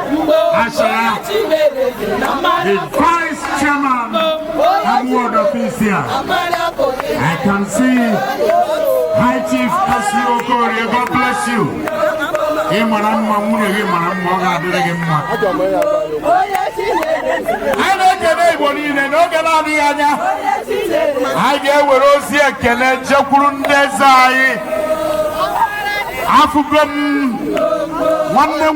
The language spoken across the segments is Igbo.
as the vice chairman and Ward official. I can see High Chief Kasi Okorie, God bless you. Ị mara mma nwunye gị mara mma ọ ga-adịrị gị mma. Anyị na-ekele Igbo niile n'oge na-adịghị anya. Anyị ga-ewere ozi ekele jekwuru ndị eze anyị. Afụgo m nwanne m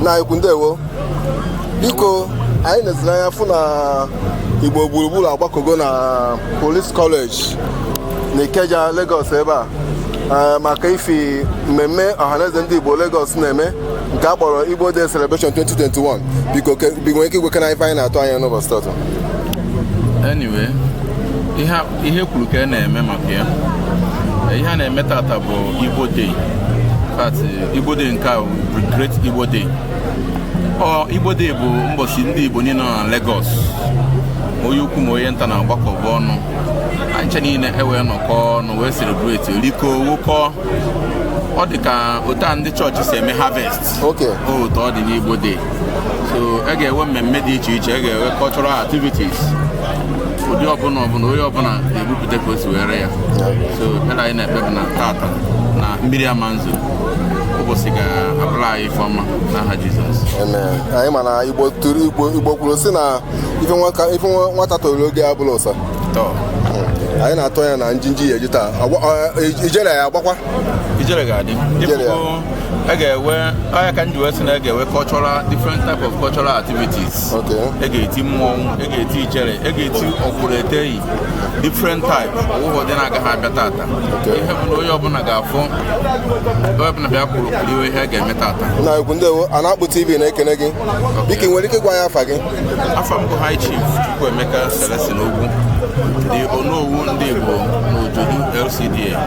nna anyị ukwu ndewo biko anyị neziri anya fụ na igbo gburugburu agbakogo na police college na ikeja lagos ebe a eh, maka ife mmemme ọhaneze ndị igbo lagos na-eme nke a kpọrọ igbo day celebration 2021 biko nwere ike ịgwakene ife anyị na-atụ anya n'ụbọchị tata anyway ihe ihe kwuru ka e na-eme maka ya ihe a na-eme tata bụ Igbo Day but Igbo Day nke a Great Igbo Day ọ Igbo Day bụ mbọchị ndị Igbo niile nọ na Lagos onye ukwu ma onye nta na-agbakọba ọnụ ha ncha niile ewee nọkọ ọnụ wee celebrate rikọọ ṅụkọọ ọ dị ka otu a ndị chọọchị si eme harvest Okay. otu ọ dị n'Igbo Day so a ga-enwe mmemme dị iche iche a ga-enwe cultural activities ụdị ọbụla ọbụla onye ọbụla ga-ebupụta ka o si were ya so ekpere anyị na-ekpe bụ na tata na mmiri ama nzo ụbọchị ga-abụrụ anyị ife ọma n'aha Jizọs Amen. anyị ma na igbo tụrụ igbo igbo kwuru sị na ife nwaka- ife nwa- nwata toro oge abụla ụsa so anyị na-atụ anya na njinji ya-eji taa Agba- ọ- ijere ya agbakwa ijere ga-adị ịfụgo a ga-enwe ọ ya ka m ji wee sị na a ga-enwe cultural different type of cultural activities e ga-eti mmọnwụ e ga-eti ijere e ga-eti ọkwụrụ eteghị different type o nweghị ụdị na-agaghị abịa tata ihe bụ na onye ọbụla ga-afụ onye ọbụla bịa kwụrụ kiriwe ihe a ga-eme tata nna ukwu ndewo a na-akpụ tv na-ekene gị biko nwere ike ịgwa anyị afa gị afa m bụ high chief Chukwuemeka Celestine Ogwu the Onowu ndị Igbo n'Ojodu LCDA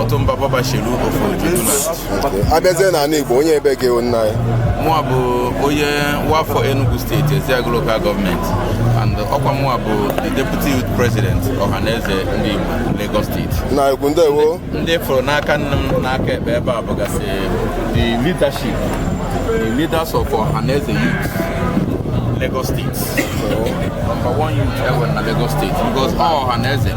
Ọtụmba Bobaselu of Ojodu land abịazie n'ala Igbo onye ebe gị nna ya mụa bụ onye nwaafọ Enugu steeti Ezeagu Local Government and ọkwa mụa bụ the Deputy Youth President Ọhaneze ndị Igbo Lagos State nna ukwu ndewo ndị fụrụ n'aka nni m n'aka ekpe ebe a bụgasị the leadership the leaders of Ọhaneze youth Lagos State number one youth ever na Lagos State because Ọhaneze